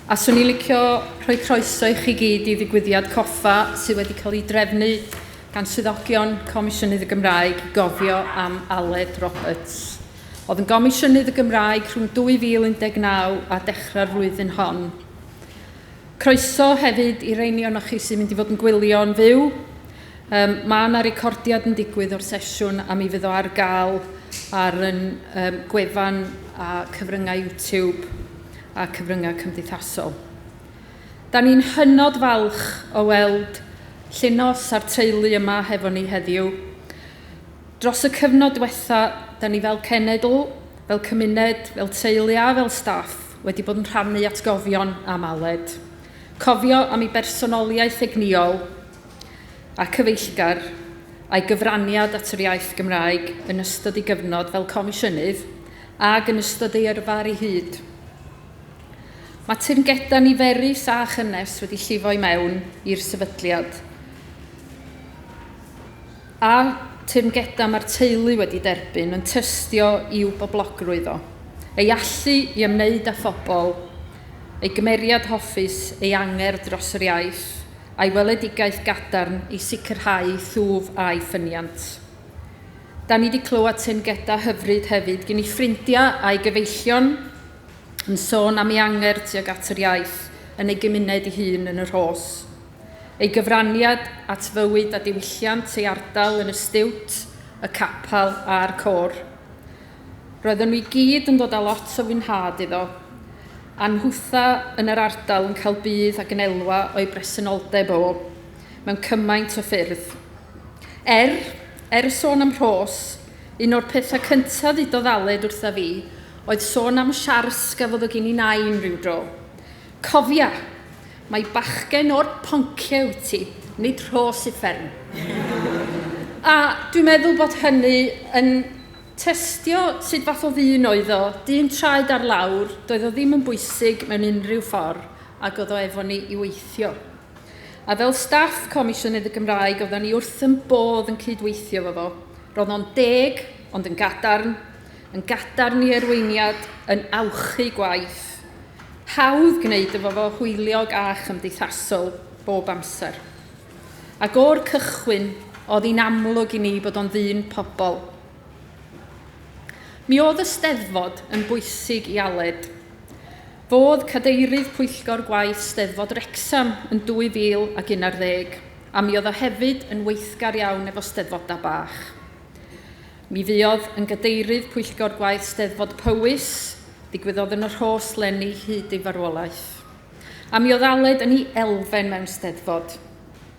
A swn i licio rhoi croeso i chi gyd i ddigwyddiad coffa sydd wedi cael ei drefnu gan swyddogion Comisiynydd y Gymraeg i gofio am Aled Roberts. Oedd yn Gomisiynydd y Gymraeg rhwng 2019 a dechrau'r flwyddyn hon. Croeso hefyd i reini o'n chi sy'n mynd i fod yn gwylio'n fyw. Um, mae yna recordiad yn digwydd o'r sesiwn a mi fydd o ar gael ar yn um, gwefan a cyfryngau YouTube. a cyfryngau cymdeithasol. Da ni'n hynod falch o weld Llinos a'r teulu yma hefo ni heddiw. Dros y cyfnod diwetha, da ni fel cenedl, fel cymuned, fel teulu a fel staff wedi bod yn rhannu atgofion am Aled. Cofio am ei bersonoliaeth egnïol a cyfeillgar a'i gyfraniad at yr iaith Gymraeg yn ystod ei gyfnod fel comisiynydd ag yn ystod ei yrfa ar ei hyd. Mae teyrngedau niferus a chynnes wedi llifo i mewn i'r sefydliad. A teyrngedau mae'r teulu wedi derbyn yn tystio i'w boblogrwydd o, ei allu i ymwneud â phobl, ei gymeriad hoffus, ei angerdd dros yr iaith, a'i weledigaeth gadarn i sicrhau thwf a'i ffyniant. Da ni di clywed teyrngeda hyfryd hefyd gin i ffrindiau a'i gyfeillion yn sôn am ei anger tuag at yr iaith yn ei gymuned ei hun yn y Rhos. Ei gyfraniad at fywyd a diwylliant ei ardal yn y stiwt, y capel a'r côr. Roedden nhw i gyd yn dod â lot o fwynhad iddo, a nhwtha yn yr ardal yn cael budd ac yn elwa o'i bresenoldeb o. mewn cymaint o ffyrdd. Er, er y sôn am Rhos, un o'r pethau cyntaf ddudodd Aled wrtha fi oedd sôn am siars gafodd o gin i nain rhyw dro. Cofia! Mae bachgen o'r poncie wyt ti, nid Rhos uffern. A dwi'n meddwl bod hynny yn testio sut fath o ddyn oedd o, dyn traed ar lawr, doedd o ddim yn bwysig mewn unrhyw ffordd ac oedd o efo ni i weithio. A fel staff Comisiynydd y Gymraeg, oedden ni wrth yn bodd yn cydweithio fo fo. Roedd o'n deg, ond yn gadarn, yn gadarn i erweiniad, yn awchu gwaith. Hawdd gwneud efo fo hwyliog a chymdeithasol bob amser. Ac o'r cychwyn, oedd hi'n amlwg i ni bod o'n ddyn pobl. Mi oedd y steddfod yn bwysig i Aled. Fodd cadeirydd pwyllgor gwaith Steddfod Wrecsam yn 2011, a mi oedd o hefyd yn weithgar iawn efo Steddfodau bach. Mi fuodd yn gadeirydd pwyllgor gwaith Steddfod Powys, ddigwyddodd yn y Rhos lenni hyd ei farwolaeth. A mi oedd Aled yn ei elfen mewn Steddfod.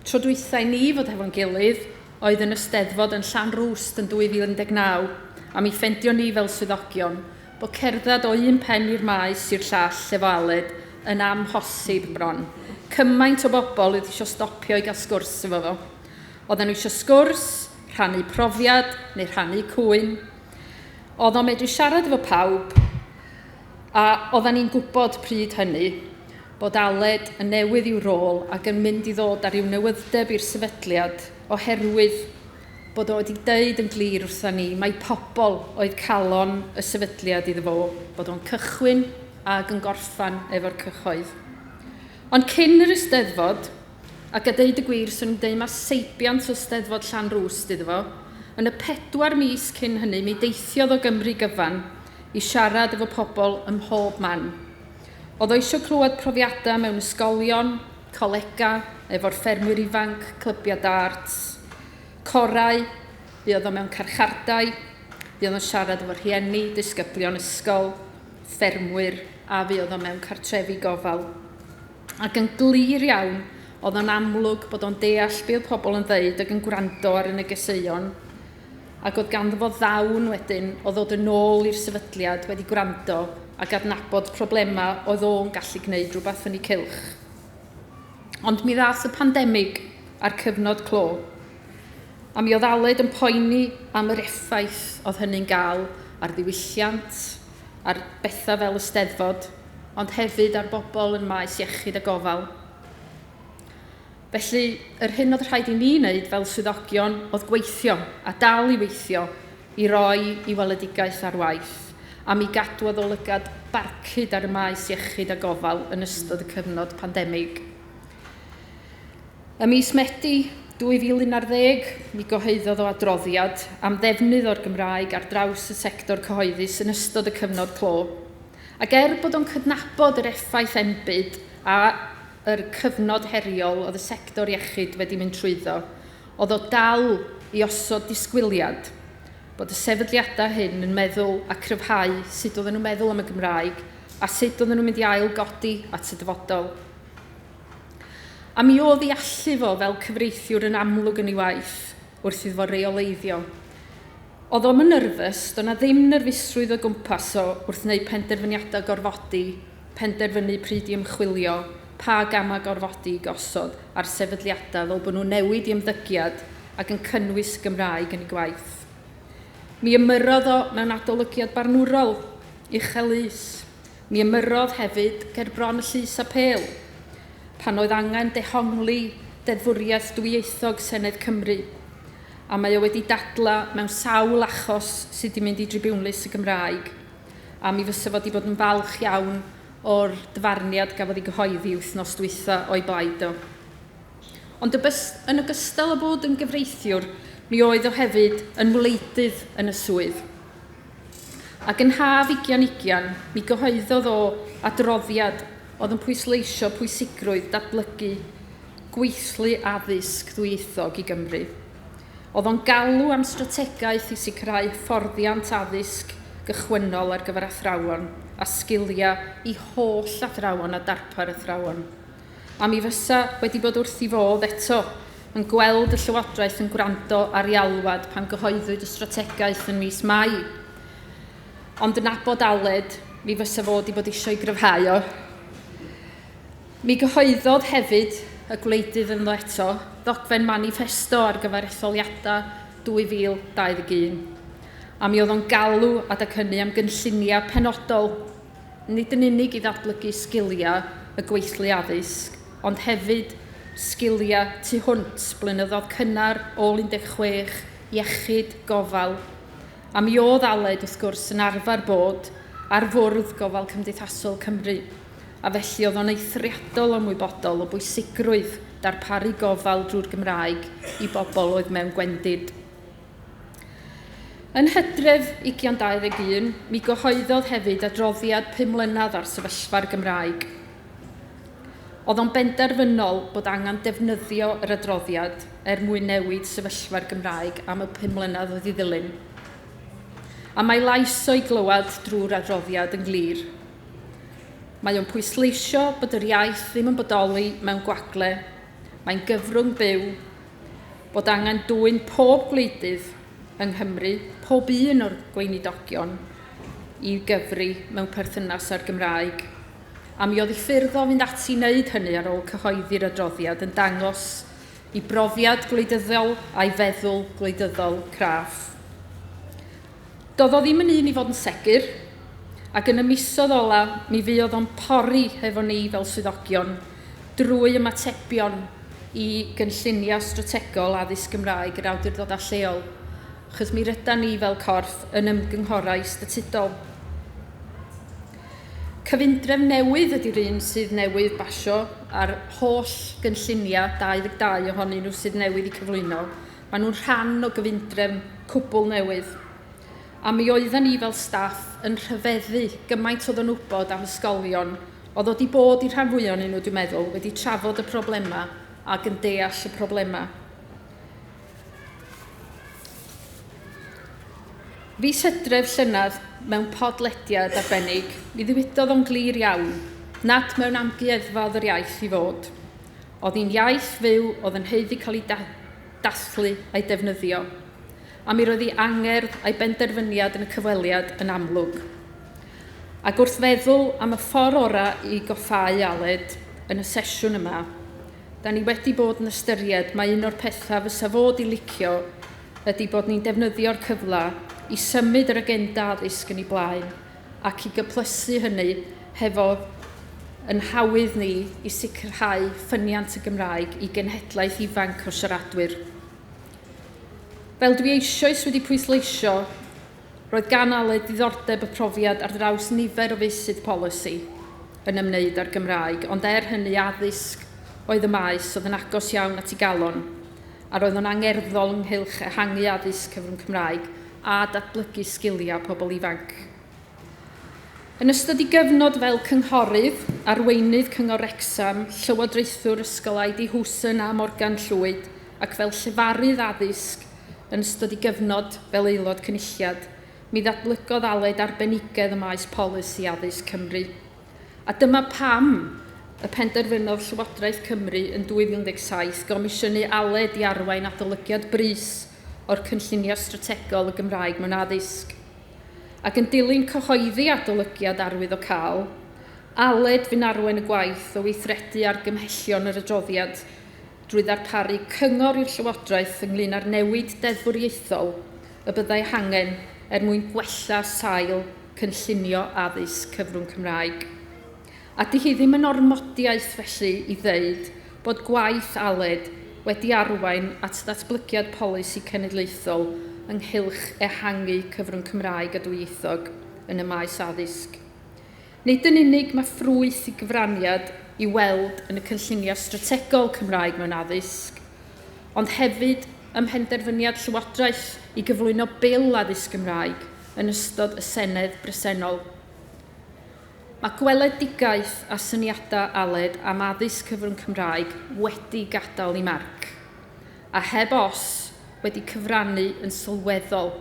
Tro dwytha i ni fod hefo'n gilydd oedd yn y Steddfod yn Llanrwst yn 2019, a mi ffendio ni fel swyddogion bod cerdded o un pen i'r maes i'r llall efo Aled yn amhosib bron. Cymaint o bobl oedd isio stopio i gael sgwrs efo fo. Oedden nhw isio sgwrs, rhannu profiad neu rhannu cŵyn. Oedd o'n medru siarad efo pawb a oedden ni'n gwybod pryd hynny bod Aled yn newydd i'w rôl ac yn mynd i ddod â rhyw newydd'deb i'r sefydliad oherwydd bod o wedi deud yn glir wrtha ni mai pobl oedd calon y sefydliad iddo fo, bod o'n cychwyn ag yn gorffan efo'r cyhoedd. Ond cyn yr Eisteddfod, ac a deud y gwir, swn i'n deud mae seibiant o Steddfod Llanrwst iddo fo, yn y pedwar mis cyn hynny mi deithiodd o Gymru gyfan i siarad efo pobl ym mhob man. oedd o eisiau clywed profiadau mewn ysgolion, colegau, efo'r ffermwyr ifanc, clybiau dart, corau, bu oedd o mewn carchardai, bu oedd o'n siarad efo rhieni, disgyblion ysgol, ffermwyr, a fu oedd o mewn cartrefi gofal. Ac yn glir iawn, oedd o'n amlwg bod o'n deall be oedd pobl yn ddeud ac yn gwrando ar y negeseuon ac oedd ganddo fo ddawn wedyn o ddod yn ôl i'r sefydliad wedi gwrando ac adnabod problemau oedd o'n gallu gwneud rhywbeth yn ei cylch. Ond mi ddath y pandemig a'r cyfnod clo, a mi oedd Aled yn poeni am yr effaith oedd hynny'n gael ar ddiwylliant, ar bethau fel y steddfod, ond hefyd ar bobl yn maes iechyd a gofal. Felly, yr hyn oedd rhaid i ni wneud fel swyddogion oedd gweithio, a dal i weithio, i roi i weledigaeth ar waith, am i gadw addolygad barcud ar y maes iechyd a gofal yn ystod y cyfnod pandemig. Ym mis Medi 2011, mi gyhoeddodd o adroddiad am ddefnydd o'r Gymraeg ar draws y sector cyhoeddus yn ystod y cyfnod clo. Ac er bod o'n cydnabod yr effaith enbyd a yr cyfnod heriol oedd y sector iechyd wedi mynd trwyddo, oedd o dal i osod disgwyliad bod y sefydliadau hyn yn meddwl a cryfhau sut oedden nhw'n meddwl am y Gymraeg a sut oedden nhw'n mynd i ail godi at y dyfodol. A mi oedd i allu fo fel cyfreithiwr yn amlwg yn ei waith wrth iddo fo reoleiddio. Oedd o'm yn nyrfys, do' 'na ddim nyrfusrwydd o gwmpas o wrth wneud penderfyniadau gorfodi, penderfynu pryd i ymchwilio, pa gamau gorfodi i gosod ar sefydliadau fel bod nhw'n newid i ymddygiad ac yn cynnwys y Gymraeg yn eu gwaith. Mi ymyrrodd o mewn adolygiad barnwrol, uchel lys. Mi ymyrrodd hefyd ger bron y Llys Apêl, pan oedd angen dehongli deddfwriaeth dwyieithog Senedd Cymru. a mae o wedi dadlau mewn sawl achos sydd 'di mynd i dribiwnlys y Gymraeg, a mi fysa fo 'di bod yn falch iawn o'r dyfarniad gafodd ei gyhoeddi wythnos dwytha o'i blaid o. Ond yn ogystal â bod yn gyfreithiwr, mi oedd o hefyd yn wleidydd yn y swydd. Ac yn haf ugian ugian, mi gyhoeddodd o adroddiad oedd yn pwysleisio pwysigrwydd datblygu gweithlu addysg ddwyieithog i Gymru. Oedd o'n galw am strategaeth i sicrhau hyfforddiant addysg gychwynnol ar gyfer athrawon a sgiliau i holl athrawon a darpar athrawon. A mi fysa wedi bod wrth i fodd eto yn gweld y Llywodraeth yn gwrando ar ei alwad pan gyhoeddwyd y strategaeth yn mis Mai. Ond yn abod Aled, mi fysa fo wedi bod eisiau gryfhau o. Mi gyhoeddodd hefyd y gwleidydd ynddo eto ddogfen maniffesto ar gyfer etholiadau 2021, a mi oedd o'n galw adeg hynny am gynlluniau penodol, nid yn unig i ddatblygu sgiliau y gweithlu addysg, ond hefyd sgiliau tu hwnt, blynyddoedd cynnar, ôl 16, iechyd, gofal, a mi oedd Aled, wrth gwrs, yn arfer bod ar Fwrdd Gofal Cymdeithasol Cymru. a felly oedd o'n eithriadol ymwybodol o bwysigrwydd darparu gofal drwy'r Gymraeg i bobl oedd mewn gwendid. Yn hydref ugian 21, mi gyhoeddodd hefyd adroddiad pum mlynedd ar sefyllfa'r Gymraeg. Oedd o'n benderfynol bod angen defnyddio yr adroddiad er mwyn newid sefyllfa'r Gymraeg am y pum mlynedd oedd i ddilyn. A mae lais o'i glywed drwy'r adroddiad yn glir. Mae o'n pwysleisio bod yr iaith ddim yn bodoli mewn gwagle, mae'n gyfrwng byw, bod angen dwyn pob gwleidydd yng Nghymru, pob un o'r Gweinidogion, i gyfri mewn perthynas â'r Gymraeg, a mi oedd y ffyrdd o fynd ati i wneud hynny ar ôl cyhoeddi'r adroddiad yn dangos i brofiad gwleidyddol a'i feddwl gwleidyddol craff. Do'dd o ddim yn un i fod yn segur, ac yn y misodd ola mi fuodd o'n pori hefo ni fel swyddogion drwy ymatebion i gynllunia strategol addysg Gymraeg yr awdurdodau lleol, achos mi rydan ni fel corff yn ymgynghorau statudol. Cyfundrefn newydd ydi'r un sydd newydd basio a'r holl gynllunia, 22 ohonyn nhw sydd newydd i cyflwyno, Maen nhw'n rhan o gyfundrefn cwbl newydd, a mi oedden ni fel staff yn rhyfeddu gymaint o ddynwybod am ysgolion oedd wedi bod i rhan fwy o'n nhw, dwi'n meddwl, wedi trafod y problemau ac yn deall y problemau. Fis hydref llynedd, mewn podlediad arbennig, mi ddiwydodd o'n glir iawn nad mewn amgueddfa oedd yr iaith i fod. oedd hi'n iaith fyw oedd yn haeddu cael ei dathlu a'i defnyddio, a mi roedd ei angerdd a'i benderfyniad yn y cyfweliad yn amlwg. Ac wrth feddwl am y ffordd orau i goffáu Aled yn y sesiwn yma, da ni wedi bod yn ystyried mae un o'r pethau fysa fod i licio ydy bod ni'n defnyddio'r cyfle i symud yr agenda addysg yn ei blaen ac i gyplysu hynny hefo yn hawydd ni i sicrhau ffyniant y Gymraeg i genhedlaeth ifanc o siaradwyr. Fel dwi eisoes wedi pwysleisio, roedd gan Aled ddiddordeb y profiad ar draws nifer o feysydd polisi yn ymwneud â'r Gymraeg, ond er hynny addysg oedd y maes oedd yn agos iawn at ei galon, a roedd o'n angerddol ynghylch ehangu addysg cyfrwng Cymraeg, a datblygu sgiliau pobl ifanc. Yn ystod ei gyfnod fel cynghorydd, arweinydd Cyngor Wrecsam, llywodraethwr Ysgol ID Hooson a Morgan Llwyd ac fel llefarydd addysg yn ystod ei gyfnod fel Aelod Cynulliad, mi ddatblygodd Aled arbenigedd ym maes polisi addysg Cymru. A dyma pam y penderfynodd Llywodraeth Cymru yn 2017 gomisiynu Aled i arwain adolygiad brys o'r cynllunio strategol y Gymraeg mewn addysg. Ac yn dilyn cyhoeddi adolygiad arwyddocaol, Aled fu'n arwain y gwaith o weithredu argymhellion yr adroddiad drwy ddarparu cyngor i'r Llywodraeth ynglŷn â'r newid deddfwriaethol y byddai hangen er mwyn gwella sail cynllunio addysg cyfrwng Cymraeg. a 'dy hi ddim yn ormodiaeth felly i ddeud bod gwaith Aled wedi arwain at ddatblygiad polisi cenedlaethol ynghylch ehangu cyfrwng Cymraeg a dwyieithog yn y maes addysg. Nid yn unig mae ffrwyth y gyfraniad i weld yn y cynlluniau strategol Cymraeg mewn addysg, ond hefyd ym mhenderfyniad Llywodraeth i gyflwyno Bil Addysg Gymraeg yn ystod y Senedd bresennol. Mae gweledigaeth a syniadau Aled am addysg cyfrwng Cymraeg wedi gadael ei marc, a heb os, wedi cyfrannu yn sylweddol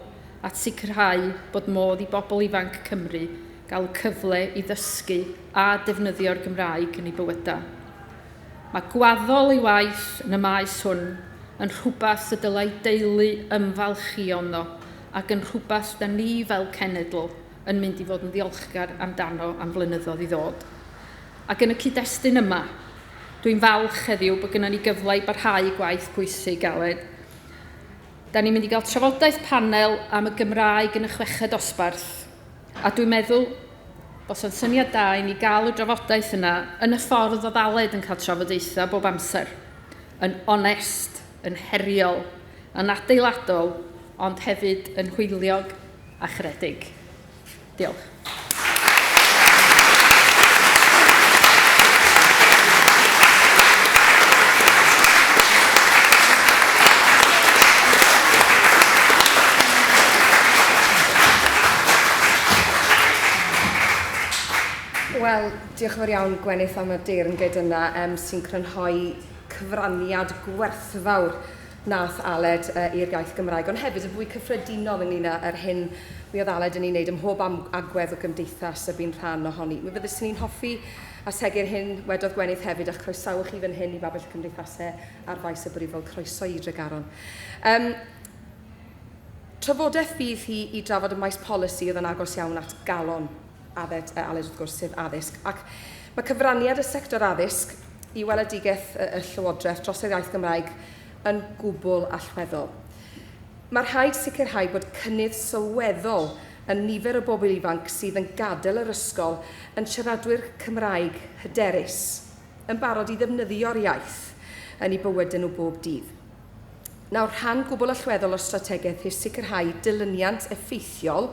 at sicrhau bod modd i bobl ifanc Cymru gael y cyfle i ddysgu a defnyddio'r Gymraeg yn eu bywydau. Mae gwaddol ei waith yn y maes hwn yn rhywbeth y dylai deulu ymfalchïo ynddo ac yn rhywbeth da ni fel cenedl, yn mynd i fod yn ddiolchgar amdano am flynyddoedd i ddod. Ac yn y cyd-destun yma, dwi'n falch heddiw bod gennym ni gyfle i barhau i gwaith pwysig, Aled. Da ni'n mynd i gael trafodaeth panel am y Gymraeg yn y chweched dosbarth, a dwi'n meddwl bod o'n syniad da i ni gael y drafodaeth yna yn y ffordd oedd Aled yn cael trafodaethau bob amser, yn onest, yn heriol, yn adeiladol, ond hefyd yn hwyliog a charedig. Diolch. Wel, diolch yn fawr iawn Gwenith am y deyrnged yna yym sy'n crynhoi cyfraniad gwerthfawr wnaeth Aled i'r iaith Gymraeg, ond hefyd yn fwy cyffredinol ynglyn â'r hyn mi oedd Aled yn ei wneud ym mhob agwedd o gymdeithas y bu'n rhan ohoni. Mi fyddeswn i'n hoffi ategu'r hyn wedodd Gwenith hefyd, a chroesawu chi fan hyn i Babell y Cymdeithasau ar Faes y Brifwyl. Croeso i Dregaron. Um, trafodaeth fydd hi i drafod y maes polisi oedd yn agos iawn at galon Adet a Aled wrth gwrs, sef addysg. Ac mae cyfraniad y sector addysg i weledigaeth y Llywodraeth dros yr iaith Gymraeg yn gwbl allweddol. Mae rhaid sicrhau bod cynnydd sylweddol yn nifer y bobl ifanc sydd yn gadael yr ysgol yn siaradwyr Cymraeg hyderus, yn barod i ddefnyddio'r iaith yn eu bywydau nhw bob dydd. Nawr, rhan gwbl allweddol o'r strategaeth yw sicrhau dilyniant effeithiol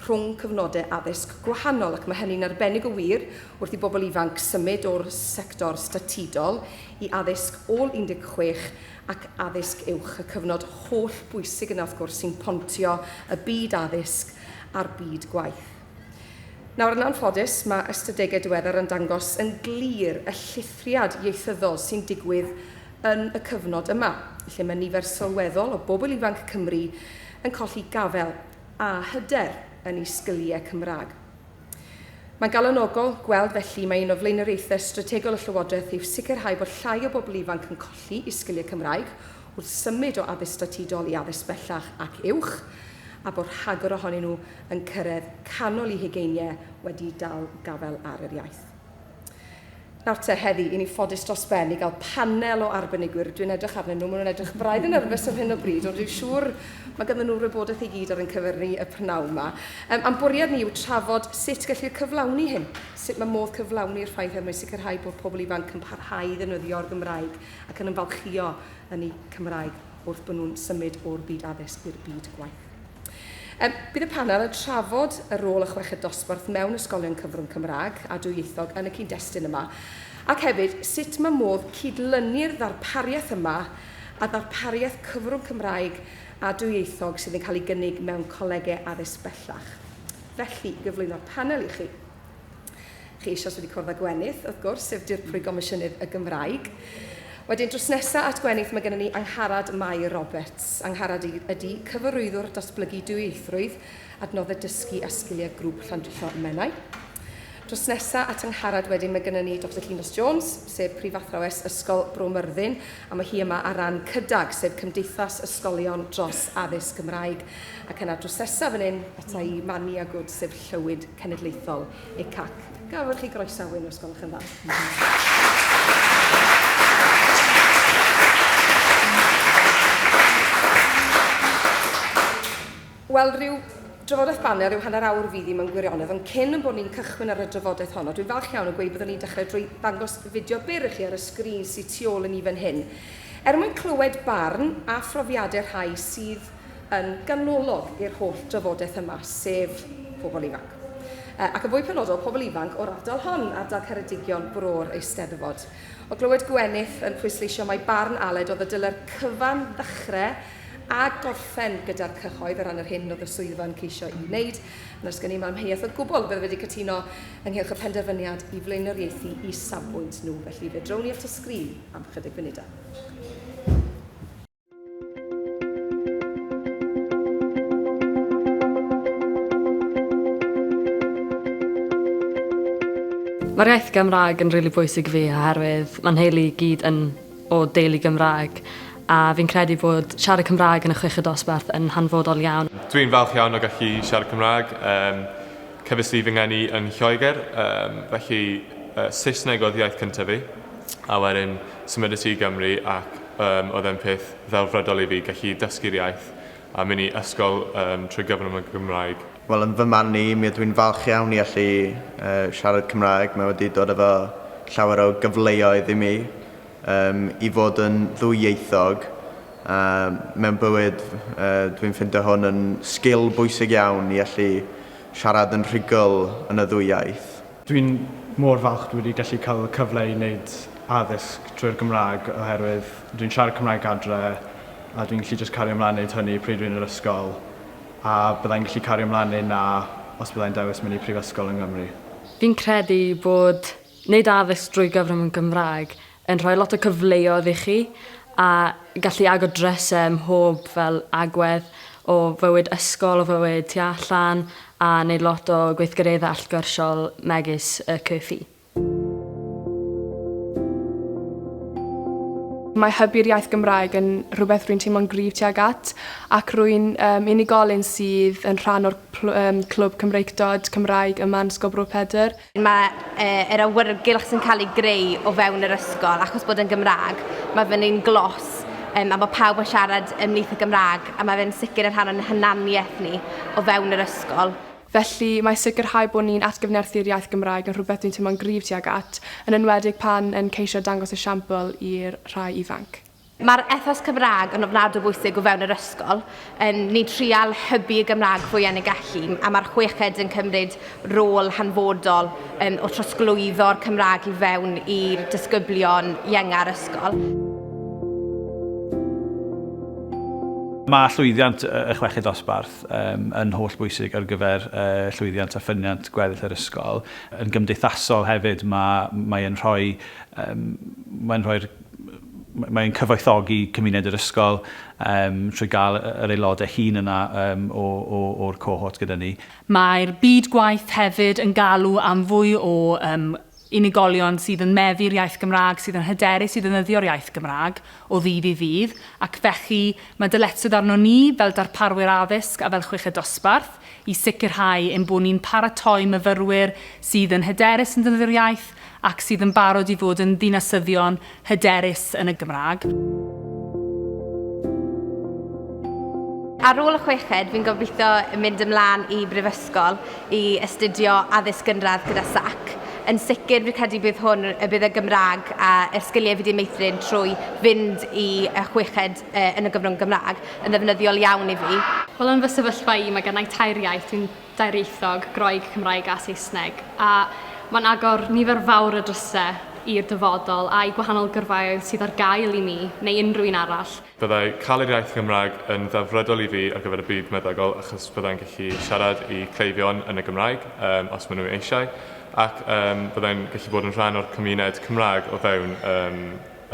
rhwng cyfnodau addysg gwahanol, ac mae hynny'n arbennig o wir wrth i bobl ifanc symud o'r sector statudol i addysg ôl 16 ac addysg uwch, y cyfnod holl bwysig yna wrth gwrs sy'n pontio y byd addysg a'r byd gwaith. Nawr, yn anffodus, mae ystadegau diweddar yn dangos yn glir y llithriad ieithyddol sy'n digwydd yn y cyfnod yma, lle mae nifer sylweddol o bobl ifanc Cymru yn colli gafael a hyder yn eu sgiliau Cymraeg. Mae'n galonogol gweld felly mae un o flaenoriaethau strategol y Llywodraeth yw sicrhau bod llai o bobl ifanc yn colli eu sgiliau Cymraeg wrth symud o addysg statudol i addysg bellach ac uwch, a bod rhagor ohonyn nhw yn cyrraedd canol eu hugeiniau wedi dal gafael ar yr iaith. Nawr te, heddi, i ni ffodus dros ben i gael panel o arbenigwyr. Dwi'n edrych arnyn nhw, maen nhw'n edrych braidd yn nyrfys ar hyn o bryd, ond dwi'n siŵr mae ganddyn nhw'r wybodaeth i gyd ar ein cyfer ni y prynawn yma. Um, a'n bwriad ni yw trafod sut gellir cyflawni hyn, sut mae modd cyflawni'r ffaith er mwyn sicrhau bod pobl ifanc yn parhau i ddefnyddio'r Gymraeg ac yn ymfalchïo yn eu Cymraeg wrth bod nhw'n symud o'r byd addysg i'r byd gwaith. Um, bydd y panel yn trafod y rôl y chweched dosbarth mewn ysgolion cyfrwng Cymraeg a dwyieithog yn y cyd-destun yma, ac hefyd sut mae modd cydlynu'r ddarpariaeth yma a ddarpariaeth cyfrwng Cymraeg a dwyieithog sydd yn cael ei gynnig mewn colegau addysg bellach. Felly, gyflwyno'r panel i chi. Chi eisoes wedi cwrdd â Gwenith, wrth gwrs, sef Dirprwy Gomisiynydd y Gymraeg. Wedyn, drws nesaf at Gwenith, mae gennym ni Angharad Mair Roberts. Angharad ydy Cyfarwyddwr Datblygu Dwyieithrwydd, Adnoddau Dysgu a Sgiliau Grŵp Llandrillo Menai. Drws nesaf at Angharad wedyn, mae gennym ni Dr Llinos Jones, sef Prifathrawes Ysgol Bro Myrddin, a mae hi yma ar ran CYDAG, sef Cymdeithas Ysgolion Dros Addysg Gymraeg. Ac yna drws nesaf fan hyn, ata i, Mania Good, sef Llywyd Cenedlaethol, ECAC. Gallwch chi groesawu nhw os gwelwch yn dda. Wel, rhyw drafodaeth banel, rhyw hanner awr fydd hi mewn gwirionedd, ond cyn yn bod ni'n cychwyn ar y drafodaeth honno, dwi'n falch iawn o gweud byddwn ni'n dechrau drwy ddangos fideo byr i chi ar y sgrin sydd tu ôl i ni fan hyn, er mwyn clywed barn a phrofiadau rhai sydd yn ganolog i'r holl drafodaeth yma, sef pobl ifanc. Ac yn fwy penodol, pobl ifanc o'r ardal hon, ardal Ceredigion, Bro'r Eisteddfod. O glywed Gwenith yn pwysleisio mai barn Aled oedd y dylai'r cyfan ddechrau a gorffen gyda'r cyhoedd o ran yr hyn oedd y swyddfa yn ceisio i wneud, na sgen i ddim amheuaeth o gwbl fydde wedi cytuno ynghylch y penderfyniad i flaenoriaethu i safbwynt nhw, felly fe drown ni at y sgrin am ychydig funudau. Mae'r iaith Gymraeg yn rili bwysig i fi oherwydd mae nheulu i gyd yn o deulu Gymraeg a fi'n credu bod siarad Cymraeg yn y chweched dosbarth yn hanfodol iawn. Dwi'n falch iawn o gallu siarad Cymraeg. Um, cyfes i fy ngeni yn Lloegr, um, felly uh, Saesneg oedd iaith cyntaf fi, a wedyn symud i Gymru ac Yym, oedd e'n peth ddelfrydol i fi, gallu dysgu'r iaith a mynd i ysgol yym trwy gyfrwng y Gymraeg. Wel, yn fy marn i, mi ydw i'n falch iawn i allu siarad Cymraeg, mae wedi dod efo llawer o gyfleoedd i mi yym i fod yn ddwyieithog, a mewn bywyd dw i'n ffindo hwn yn sgil bwysig iawn i allu siarad yn rhugl yn y ddwy iaith. Dwi'n mor falch dwi wedi gallu cael y cyfle i wneud addysg trwy'r Gymraeg oherwydd dwi'n siarad Cymraeg adre a dwi'n gallu jyst cario mlaen wneud hynny pryd dwi'n yr ysgol a byddai'n gallu cario mlaen neu na os byddai'n dewis mynd i prifysgol yng Nghymru. Fi'n credu bod wneud addysg drwy gyfrwng y Gymraeg yn rhoi lot o cyfleodd i chi a gallu agor dryse ym mhob fel agwedd o fywyd ysgol, o fywyd tu allan a neud lot o gweithgaredde allgyrsiol megis y CUFI. Mae hybu'r iaith Gymraeg yn rhywbeth rwy'n teimlo'n gryf tuag at ac rwy'n um, unigolyn sydd yn rhan o'r Clwb Cymreictod Cymraeg yma yn Ysgol Bro Pedr. Mae yr awyrgylch sy'n cael ei greu o fewn yr ysgol, achos bod yn Gymraeg, mae fe'n un glos um, a mae pawb yn siarad ymlith y Gymraeg a mae fe'n sicr yn rhan o'n hunaniaeth ni o fewn yr ysgol. Felly, mae sicrhau bod ni'n atgyfnerthu'r iaith Gymraeg yn rhywbeth dwi'n teimlo'n gryf tuag at, yn enwedig pan yn ceisio dangos esiampl i'r rhai ifanc. Mae'r ethos Cymraeg yn ofnadw bwysig o fewn yr ysgol. Yn ni'n trial hybu y Gymraeg fwy yn y gallu, a mae'r chweched yn cymryd rôl hanfodol yn o trosglwyddo'r Cymraeg i fewn i'r disgyblion ienga'r ysgol. Mae llwyddiant y chweched dosbarth um, yn holl bwysig ar gyfer uh, llwyddiant a ffyniant gweddill yr ysgol. Yn gymdeithasol hefyd, mae, mae yn rhoi, um, mae'n rhoi'r Mae'n cyfoethogi cymuned yr ysgol trwy gael yr aelodau hŷn yna o'r cohort gyda ni. Mae'r byd gwaith hefyd yn galw am fwy o unigolion sydd yn meddu'r iaith Gymraeg, sydd yn hyderus i ddefnyddio'r iaith Gymraeg o ddydd i ddydd, ac felly mae dyletswydd arnon ni fel darparwyr addysg a fel Chweched Dosbarth i sicrhau ein bod ni'n paratoi myfyrwyr sydd yn hyderus yn defnyddio'r iaith ac sydd yn barod i fod yn ddinasyddion hyderus yn y Gymraeg. Ar ôl y chweched, fi'n gobeithio mynd ymlaen i brifysgol i astudio addysg gynradd gyda sac. Yn sicr, fi'n credu bydd hwn, y bydd y Gymraeg a'r sgiliau fi wedi meithrin trwy fynd i y chweched yn y gyfrwng Gymraeg yn ddefnyddiol iawn i fi. Wel yn fy sefyllfa i mae gennai tair iaith, dwi'n dairieithog, Groeg, Cymraeg a Saesneg, a mae'n agor nifer fawr o drysau i'r dyfodol a'i gwahanol gyrfaoedd sydd ar gael i mi neu unrhyw un arall. Byddai cael yr iaith Gymraeg yn ddelfrydol i fi ar gyfer y byd meddygol achos byddai'n gallu siarad i cleifion yn y Gymraeg yym os maen nhw eisiau ac yym byddai'n gallu bod yn rhan o'r cymuned Cymraeg o fewn yym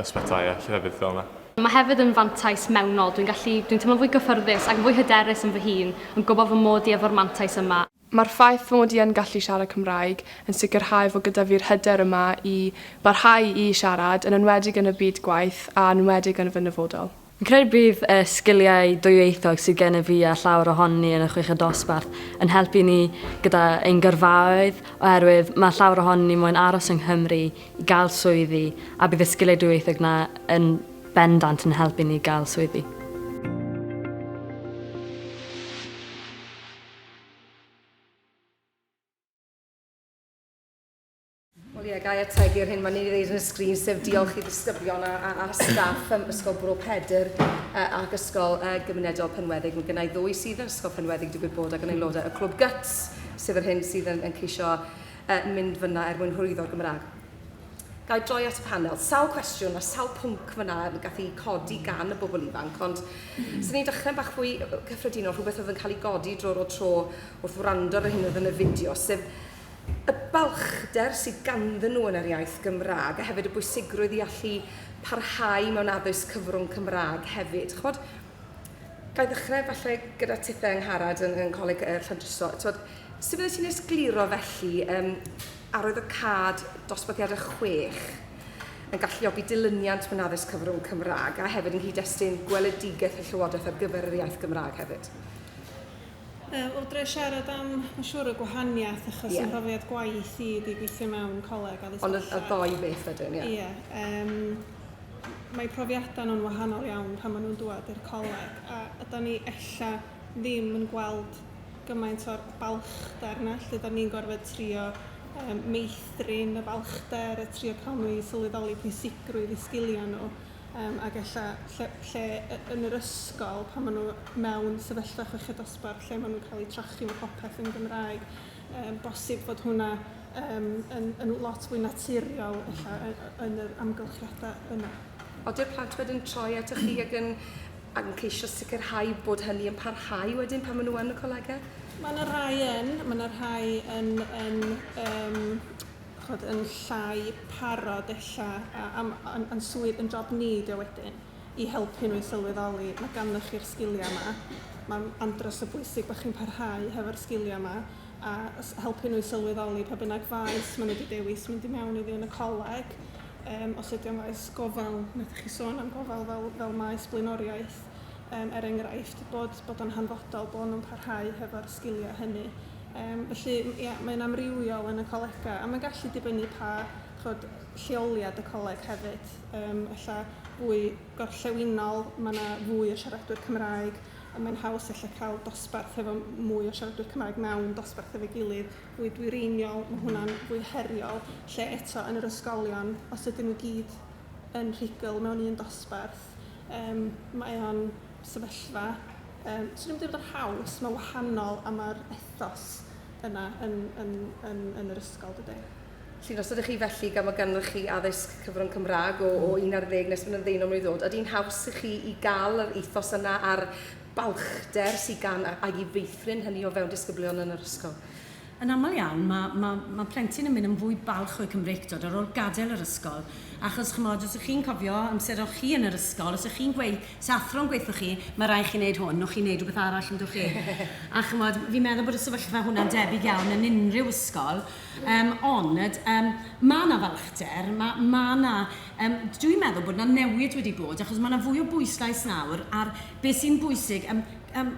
ysbytai a llefydd fel yna. Mae hefyd yn fantais mewnol, dwi'n gallu, dwi'n teimlo'n fwy cyffyrddus ac yn fwy hyderus yn fy hun yn gwybod fy mod i efo'r mantais yma. Mae'r ffaith fy mod i yn gallu siarad Cymraeg yn sicrhau fod gyda fi'r hyder yma i barhau i siarad, yn enwedig yn y byd gwaith a yn enwedig yn fy nyfodol. Fi'n credu bydd y sgiliau dwyieithog sydd gennyf fi a llawer ohonyn ni yn y chweched dosbarth yn helpu ni gyda ein gyrfaoedd oherwydd mae llawer ohonyn ni moyn aros yng Nghymru i gael swyddi a bydd y sgiliau dwyieithog yna yn bendant yn helpu ni gael swyddi. Wel ie, gai ategu ar hyn, mae ni wedi dweud yn y sgrin, sef diolch i ddisgyblion a, a, a staff ym Ysgol Bro Pedr uh, ac Ysgol uh, Gymunedol Penweddig. Mae gennau ddwy sydd yn Ysgol Penweddig, digwydd bod, ac yn aelodau y Clwb Guts, sef yr hyn sydd yn, yn ceisio yn mynd fyna er mwyn hyrwyddo'r Gymraeg. Ga i droi at y panel? Sawl cwestiwn a sawl pwnc fyna yn gallu codi gan y bobl ifanc, ond sy'n ni'n dechrau'n bach fwy cyffredinol, rhywbeth oedd yn cael ei godi drwy'r o tro wrth wrando ar yr hyn oedd yn y fideo, sef y balchder sydd ganddyn nhw yn yr iaith Gymraeg, a hefyd y bwysigrwydd i allu parhau mewn addysg cyfrwng Cymraeg hefyd. Chymod, Ga i ddechrau falle gyda tithau Angharad yn, yn Coleg uh, Llandriso. Tod, sut fydde ti'n esgluro felly um, arwydd y cad dosbarthiadau chwech yn galluogi dilyniant mewn addysg cyfrwng Cymraeg a hefyd yn nghyd-destun gweledigaeth y Llywodraeth ar gyfer yr iaith Gymraeg hefyd? Uh, o dre siarad am, mae'n siŵr, y gwahaniaeth, achos yeah. ymhrofiad gwaith i wedi gweithio mewn coleg a ddysgu. Ond y, y ddoi beth wedyn, ie. Yeah. Ie. Yeah, um, mae profiadau nhw'n wahanol iawn pan maen nhw'n dŵad i'r coleg a a dan ni ella ddim yn gweld gymaint o'r balchder 'na lle dan ni'n gorfod trio yym meithrin y balchder a trio cael nhw i sylweddoli pwysigrwydd eu sgiliau nhw yym ac ella lle lle yy yn yr ysgol pan maen nhw mewn sefyllfa chweched dosbarth lle maen nhw'n cael eu trochi ma' popeth yn Gymraeg. Mae'n bosib fod hwnna um, yn, yn lot fwy naturiol ella, yn yr amgylchiadau yna. Oeddi'r plant wedyn troi at y chi ac yn, ac yn ceisio sicrhau bod hynny yn parhau wedyn pan maen nhw yn y colegau? Mae yna rhai yn, mae yna rhai yn, yn, um, chod, yn llai parod ella, a, am, yn, yn swydd yn job ni ydi wedyn. i helpu nhw i sylweddoli ma' ganddoch chi'r sgiliau 'ma. Mae'n andros o bwysig bod chi'n parhau hefo'r sgiliau 'ma a s- helpu nhw i sylweddoli pa bynnag faes maen nhw 'di dewis mynd i mewn iddi yn y coleg, yym os ydy o'n faes gofal, wnaethoch chi sôn am gofal fel fel maes blaenoriaeth, yym er enghraifft, bod bod o'n hanfodol bod nhw'n parhau hefo'r sgiliau hynny. Yym felly ia mae'n amrywiol yn y colegau a mae'n gallu dibynnu pa chimod lleoliad y coleg hefyd. yym ella fwy gorllewinol, ma' 'na fwy o siaradwyr Cymraeg, a mae'n haws ella cael dosbarth efo mwy o siaradwyr Cymraeg mewn dosbarth efo'i gilydd, fwy dwyreiniol, ma' hwnna'n fwy heriol. Lle eto yn yr ysgolion, os ydyn nhw i gyd yn rhugl mewn un dosbarth, yym mae o'n sefyllfa yym 'swn i'm yn deud bod o'n haws, mae'n wahanol a ma'r ethos yna yn yn yn yn yr ysgol dydy. Felly, os ydych chi felly, gan fod gennych chi addysg cyfrwng Cymraeg o, o 11 nes bod yn ddeunaw mlwydd oed, ydy'n haws i chi i gael yr ethos yna a'r balchder sydd gan a- ag i feithrin hynny o fewn disgyblion yn yr ysgol? Yn aml iawn, mae, mae, mae plentyn yn mynd yn fwy balch o'u Cymreictod ar ôl gadael yr ysgol. Achos, chimod, os y'ch chi'n cofio amser o'ch chi yn yr ysgol, os y'ch chi'n gweud, os athro'n gweud wrthoch chi, mae rhaid i chi wneud hwn, o'ch chi'n wneud rhywbeth arall, yn do'ch chi? A chimod, fi'n meddwl bod y sefyllfa hwnna'n debyg iawn yn unrhyw ysgol, Yym, ond, yym, ma' 'na falchder, ma', ma' 'na, yym, d- dwi'n meddwl bod 'na newid wedi bod, achos ma' 'na fwy o bwyslais nawr ar be' sy'n bwysig, yym, yym,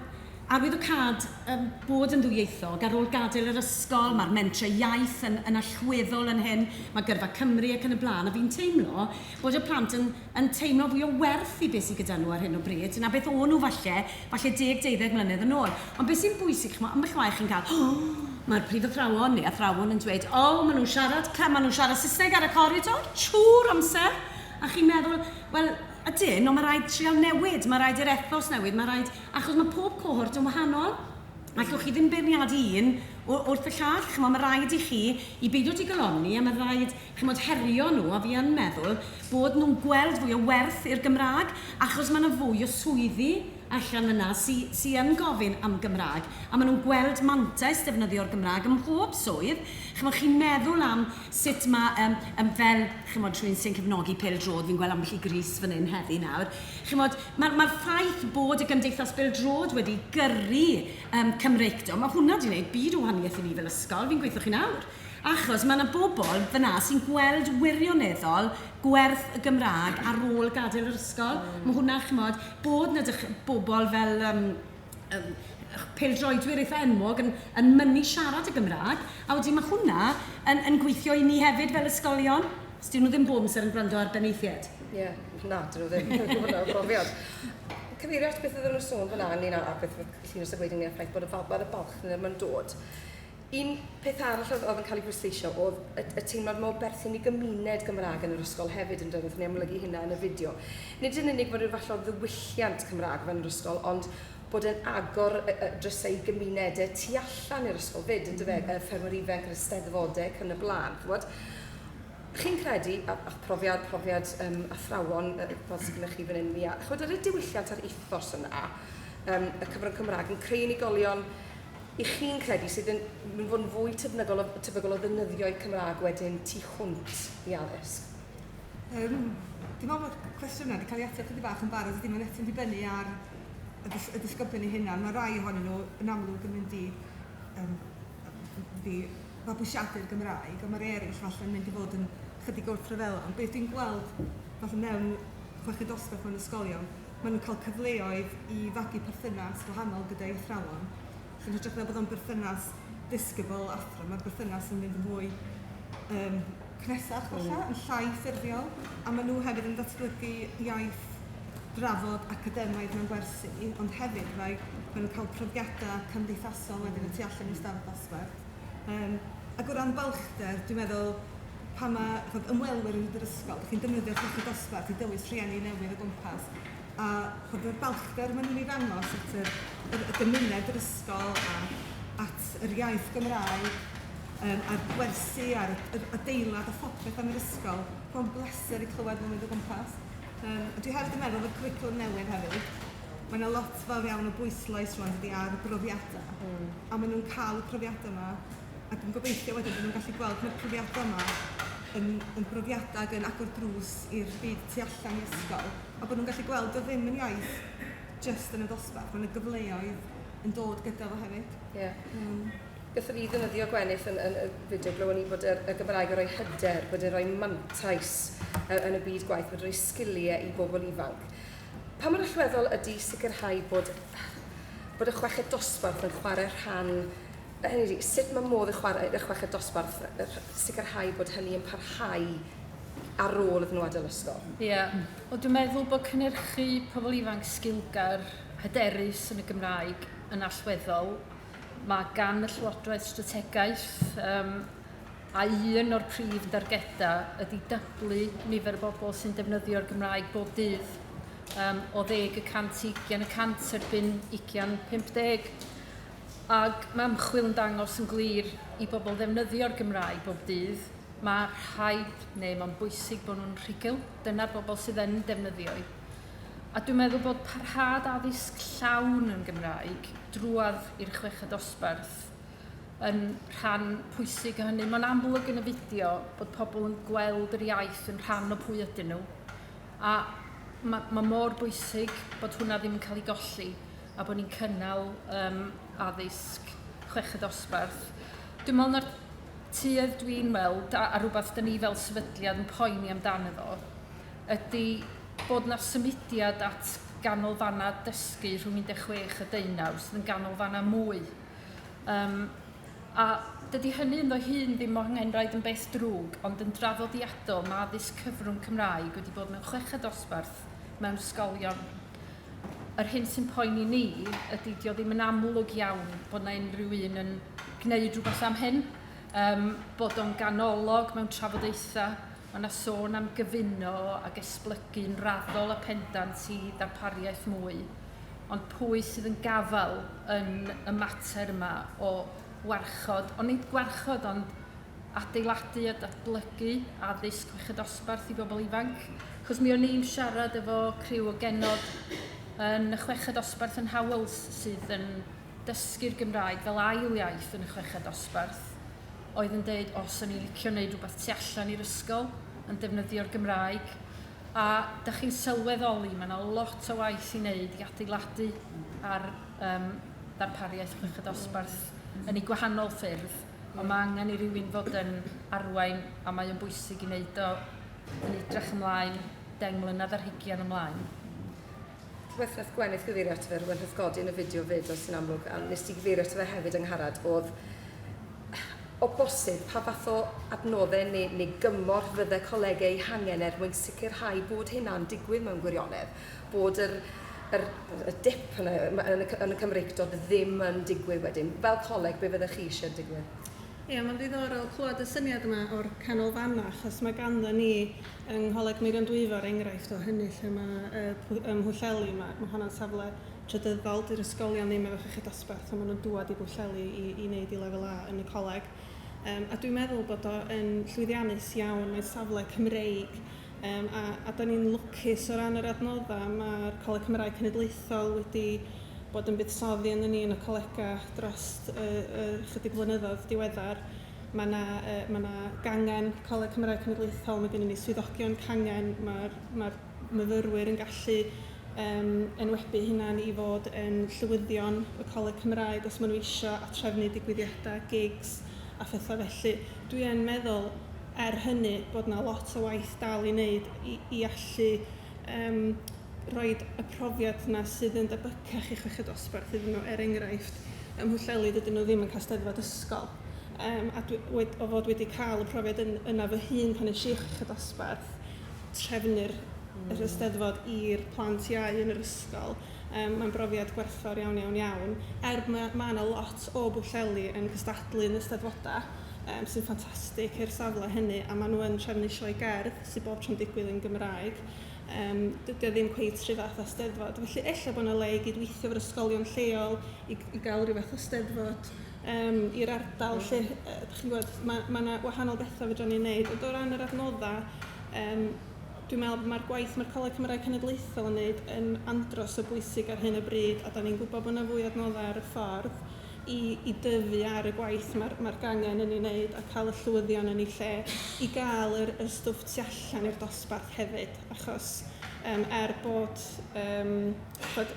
arwyddocâd, yym, bod yn ddwyieithog, ar ôl gadael yr ysgol, ma'r mentrau iaith yn, yn allweddol yn hyn, ma' Gyrfa Cymru ac yn y blaen, a fi'n teimlo bod y plant yn, yn teimlo fwy o werth i beth sy gyda nhw ar hyn o bryd na beth o'n nhw falle, falle deg, deuddeg mlynedd yn ôl. Ond beth sy'n bwysig, chimod, ambell waith chi'n cael, O! mae'r prif athrawon neu athrawon yn dweud, O! maen nhw'n siarad, ca- maen nhw'n siarad Saesneg ar y coridor, trwy'r amser! A chi'n meddwl, Wel, ydyn, ond mae rhaid trial newid, mae rhaid i'r ethos newid, mae rhaid... achos mae pob cohort yn wahanol. Allwch chi ddim beirniadu un wrth y llall, chimod, mae rhaid i chi i beidio digalonni a mae rhaid chimod, herio nhw, a fi yn meddwl bod nhw'n gweld fwy o werth i'r Gymraeg, achos mae 'na fwy o swyddi allan yna sy sy yn gofyn am Gymraeg, a maen nhw'n gweld mantais defnyddio'r Gymraeg ym mhob swydd. Chimod, chi'n meddwl am sut mae yym yym fel, chimod, rhywun sy'n cefnogi pêl-droed, fi'n gweld ambell i grys fan hyn heddi nawr, chimod, mae'r mae'r ffaith bod y Gymdeithas Bêl-droed wedi gyrru yym Cymreictod, mae hwnna 'di wneud byd o wahaniaeth i ni fel ysgol, fi'n gweithio chi nawr. Achos mae 'na bobl fan'na sy'n gweld wirioneddol gwerth y Gymraeg ar ôl gadael yr ysgol. Mae hwnna, chimod, bod 'na dych- bobl fel yym yym pêl-droedwyr eitha' enwog yn yn mynnu siarad y Gymraeg, a wedyn ma' hwnna yn yn gweithio i ni hefyd fel ysgolion. 'S 'dyn nhw ddim bob amser yn gwrando ar benaethiaid. Ie, na, 'dyn nhw ddim. Mae hwnna o brofiad. Cyfeirio at beth oedden nhw'n sôn fan'na ynglyn â a beth oedd Llinos yn gweud ynglyn â'r ffaith bod y fab- wel y balch 'na ddim yn dod. Un peth arall oedd oedd yn cael ei bwysleisio oedd y, y teimlad mae o berthyn i gymuned Gymraeg yn yr ysgol hefyd, yn dweud, ni amlygu hynna yn y fideo. Nid yn unig fod rhyw fath o ddiwylliant Cymraeg fan yr ysgol, ond bod e'n agor y, y drysau i gymunedau tu allan i'r ysgol fyd, yn dyfe, y ffermwyr ifanc, yr ysteddfodau ac yn y blaen. Chymod? Chi'n credu, a, a profiad, profiad um, athrawon uh, fel sydd gennych chi fan hyn, Mia, chymod, yr y diwylliant a'r ethos yna, um, y cyfrwng Cymraeg yn creu unigolion Y'ch chi'n credu sydd yn yn fod yn fwy tebygol o tebygol o ddefnyddio'u Cymraeg wedyn tu hwnt i addysg? Yym, dwi'n meddwl bod y cwestiwn yna wedi cael ei ateb chydig bach yn barod, dydy, mae'n eto'n dibynnu ar y dys- y disgyblion eu hunain. Mae rai ohonyn nhw yn amlwg yn mynd i yym mynd i fabwysiadu'r Gymraeg, ond mae'r eraill falle'n mynd i fod yn chydig wrth ryfela. Ond beth dwi'n gweld fatha mewn chweched dosbarth mewn ysgolion, Maen nhw'n cael cyfleoedd i fagu perthynas gwahanol gyda'u athrawon, sy'n hytrach na bod o'n berthynas disgybl, athro, mae'r berthynas yn mynd yn fwy yym cynnesach falle, yn llai ffurfiol, a maen nhw hefyd yn datblygu iaith drafod academaidd mewn gwersi, ond hefyd mae maen nhw'n cael profiadau cymdeithasol wedyn y tu allan i'r stafell ddosbarth. Yym ac o ran balchder, dwi'n meddwl pan mae chibod ymwelwyr yn dod i'r ysgol, dach chi'n defnyddio Llechi Dosbarth i dywys rhieni newydd o gwmpas, a chibod yr balchder maen nhw'n ei ddangos at yr yr y gymuned, yr ysgol a at yr iaith Gymraeg yym a'r gwersi a'r yr adeilad a phopeth am yr ysgol, mae'n bleser i clywed nhw'n mynd o gwmpas. Yym a dwi hefyd yn meddwl bod y cwricwlwm newydd hefyd, Mae 'na lot fawr iawn o bwyslais rŵan dydy ar y profiadau... mm. ...a maen nhw'n cael y profiadau 'ma ac yn gobeithio wedyn bod nhw'n gallu gweld mae'r profiadau 'ma yn yn brofiadau ac yn agor drws i'r byd tu allan i ysgol a bod nhw'n gallu gweld dio ddim yn iaith jyst yn y dosbarth, mae 'na gyfleoedd yn dod gyda fo hefyd. Ie. Yym. Gallwn ni ddefnyddio Gwenith yn yn y fideo glywon ni bod yr y Gymraeg yn rhoi hyder, bod e'n rhoi mantais yy yn y byd gwaith, bod e'n rhoi sgiliau i bobl ifanc. Pa mor allweddol ydy sicrhau bod, bod y chweched dosbarth yn chwarae rhan, hynny ydi, sut mae modd y, chwarae, y chweched dosbarth sicrhau bod hynny yn parhau ar ôl iddyn nhw adael ysgol? Ie, yeah. o dwi'n meddwl bod cynnyrchu pobl ifanc sgilgar hyderus yn y Gymraeg yn allweddol. Mae gan y Llywodraeth strategaeth um, a un o'r prif dargedau ydy dyblu nifer y bobl sy'n defnyddio'r Gymraeg bob dydd um, o ddeg y cant i ugian y cant erbyn ugian 50. Ac mae ymchwil yn dangos yn glir i bobl ddefnyddio'r Gymraeg bob dydd, mae rhaid neu mae'n bwysig bod nhw'n rhugl, dyna'r bobl sydd yn defnyddio'i. A dwi'n meddwl bod parhad addysg llawn yn Gymraeg drwad i'r chweched dosbarth yn rhan pwysig o hynny. Mae'n amlwg yn y fideo bod pobl yn gweld yr iaith yn rhan o pwy ydyn nhw a mae, mae mor bwysig bod hwnna ddim yn cael ei golli a bod ni'n cynnal um, addysg chweched osbarth. Dwi'n meddwl na'r tuedd dwi'n weld a, a rhywbeth dyn ni fel sefydliad yn poeni amdano fo ydy bod na symudiad at ganolfannau dysgu rhwng 16 a 19 sydd yn ganolfannau mwy Yym, a dydy hynny ynddo hun ddim mor nghenraid yn beth drwg, ond yn draddodiadol mae addysg cyfrwng Cymraeg wedi bod mewn chweched dosbarth mewn ysgolion. Yr hyn sy'n poeni ni ydy dio ddim yn amlwg iawn bod yna unrhyw un yn gwneud rhywbeth am hyn, um, bod o'n ganolog mewn trafodaethau, mae yna sôn am gyfuno ac esblygu'n raddol a pendant i ddarpariaeth mwy. ond pwy sydd yn gafael yn y mater yma o warchod, ond nid gwarchod, ond adeiladu a datblygu addysg chweched dosbarth i bobl ifanc. Cos mi o'n i'n siarad efo criw o genod yn y chweched dosbarth yn Howells sydd yn dysgu'r Gymraeg fel ail iaith yn y chweched dosbarth oedd yn dweud os o'n i'n licio wneud rhywbeth tu allan i'r ysgol yn defnyddio'r Gymraeg A dych chi'n sylweddoli, mae yna lot o waith i wneud i adeiladu ar um, ddarpariaeth chwech y dosbarth yn ei gwahanol ffyrdd, ond mae angen i rywun fod yn arwain a mae o'n bwysig i wneud o yn edrych ymlaen deng mlynedd ar hygian ymlaen. Rwyf wnaeth Gwenith gyfeirio ato fe, rwyf wnaeth godi yn y fideo fyd os yn amlwg, a wnest ti gyfeirio ato fe hefyd Angharad, oedd o bosib pa fath o adnoddau neu, neu gymorth fydde colegau eu hangen er mwyn sicrhau bod hynna'n digwydd mewn gwirionedd, bod yr, yr, y dip yna yn y, yn y Cymreictod ddim yn digwydd wedyn. Fel coleg, be fyddech chi eisiau digwydd? Ie, mae'n ddiddorol clywed y syniad yma o'r canolfannau, achos mae ganddo ni Yng Ngholeg Meirion-Dwyfor, enghraifft o hynny lle mae y pw- ym Mhwllheli, mae mae honna'n safle trydyddol, 'di'r ysgolion ddim efo llechi dosbarth a maen nhw'n dŵad i Bwllheli i i wneud eu Lefel A yn y coleg. Yym a dwi'n meddwl bod o yn llwyddiannus iawn, mae'n safle Cymreig yym a a dan ni'n lwcus o ran yr adnoddau, mae'r Coleg Cymraeg Cenedlaethol wedi bod yn buddsoddi ynddo ni yn y colegau dros y y chydig flynyddoedd diweddar. Mae 'na yy ma' 'na gangen Coleg Cymraeg Cenedlaethol, ma' gennyn ni swyddogion cangen, ma'r ma'r myfyrwyr yn gallu yym enwebu eu hunain i fod yn llywyddion y Coleg Cymraeg os maen nhw isio, a trefnu digwyddiadau, gigs a phethau felly. Dwi yn meddwl, er hynny, bod 'na lot o waith dal i wneud i i allu yym rhoid y profiad 'na sydd yn debycach i chweched dosbarth iddyn nhw. Er enghraifft, ym Mhwllheli dydyn nhw ddim yn cael 'Steddfod ysgol. yym a dwi... we- o fod wedi cael y profiad yn yna fy hun pan es i iechyd a dosbarth, trefnu'r... m-hm. ...yr Eisteddfod i'r plant iau yn yr ysgol, yym mae'n brofiad gwerthfawr iawn, iawn, iawn. Er ma' ma' 'na lot o Bwllheli yn cystadlu yn y Steddfodau, yym sy'n ffantastig i'r safle hynny, a maen nhw yn trefnu sioe gerdd sydd bob tro'n digwydd yn Gymraeg, yym dydy o ddim cweit yr un fath â 'Steddfod. Felly, ella bod 'na le i gydweithio efo'r ysgolion lleol i i gael ryw fath o 'Steddfod. um, i'r ardal lle, uh, chi'n gwybod, mae yna ma wahanol bethau fydra ni'n neud. Ond o ran yr adnoddau, um, dwi'n meddwl bod mae'r gwaith mae'r Coleg Cymraeg Cenedlaethol yn neud yn andros o bwysig ar hyn o bryd, a da ni'n gwybod bod yna fwy adnoddau ar y ffordd i, i dyfu ar y gwaith mae'r mae gangen yn ei wneud a cael y llywyddion yn ei lle i gael yr, yr stwff tu allan i'r dosbarth hefyd, achos um, er bod, um, bod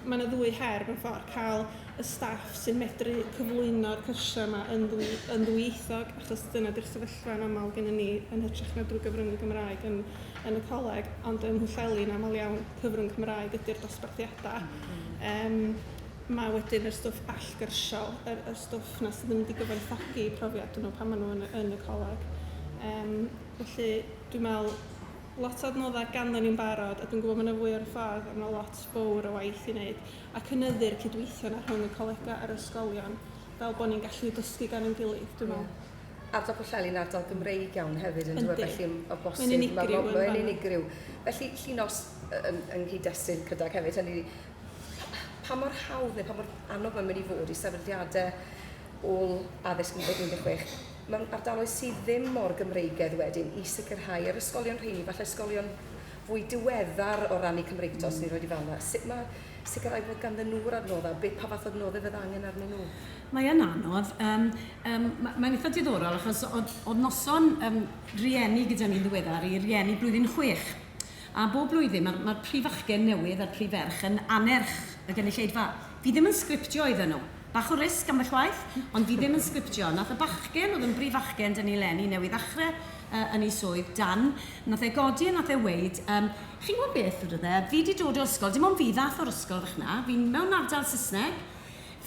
mae yna ddwy her mewn ffordd, cael y staff sy'n medru cyflwyno'r cyrsiau yma yn ddwy, yn ddwyieithog, achos dyna di'r sefyllfa yn aml gennym ni, yn hytrach na drwy gyfrwng y Gymraeg yn, yn y coleg, ond yn Mhwllheli'n aml iawn cyfrwng Cymraeg ydy'r dosbarthiadau. Um, mae wedyn y stwff allgyrsiol, yr, yr stwff na sydd yn mynd i gyfoethogi profiad nhw pan maen nhw yn, yn y coleg. Um, felly, dwi'n meddwl, lot o adnoddau ganddo ni'n barod, a dwi'n gwybod mae yna fwy o'r ffordd, a mae lot fawr o waith i wneud. a cynyddu'r cydweithio 'na rhwng y colegau a'r ysgolion, fel bod ni'n gallu dysgu gan ein gilydd, dwi'n meddwl. Ie. Ardal Pwllheli'n ardal Gymreig iawn hefyd, yn dyw e? Felly, o bosib... Mae'n unigryw yn fan'na. Mae'n unigryw. Felly, Llinos, yn, yng nghyd-destun Cydag hefyd, hynny ydi, pa mor hawdd neu pa mor anodd mae'n mynd i fod i sefydliadau ôl addysg 2016 mewn ardaloedd sydd ddim mor Gymreigaidd wedyn i sicrhau yr ysgolion rheini, falle ysgolion fwy diweddar o ran eu Cymreictod, os ni'n rhoi i fel yna. Sut mae sicrhau bod ganddyn nhw'r adnoddau, be, pa fath o adnoddau fydd angen arnyn nhw? Mae yn anodd. Um, um, mae'n eitha diddorol achos oedd, oedd noson um, rieni gyda ni'n ddiweddar i rieni blwyddyn chwech. A bob blwyddyn mae'r mae prif achgen newydd a'r prif ferch yn anerch y gynulleidfa. Fi ddim yn sgriptio iddyn nhw. Bach o risg ambell waith, ond fi ddim yn sgriptio. Nath y bachgen oedd yn brif achgen dyn ni leni newydd ddechrau yy yn ei swydd, Dan, wnaeth e godi a wnaeth e weud, yym, chi'n gwybod beth, wedodd e, fi 'di dod o ysgol, dim ond fi ddaeth o'r ysgol fach 'na, fi'n mewn ardal Saesneg,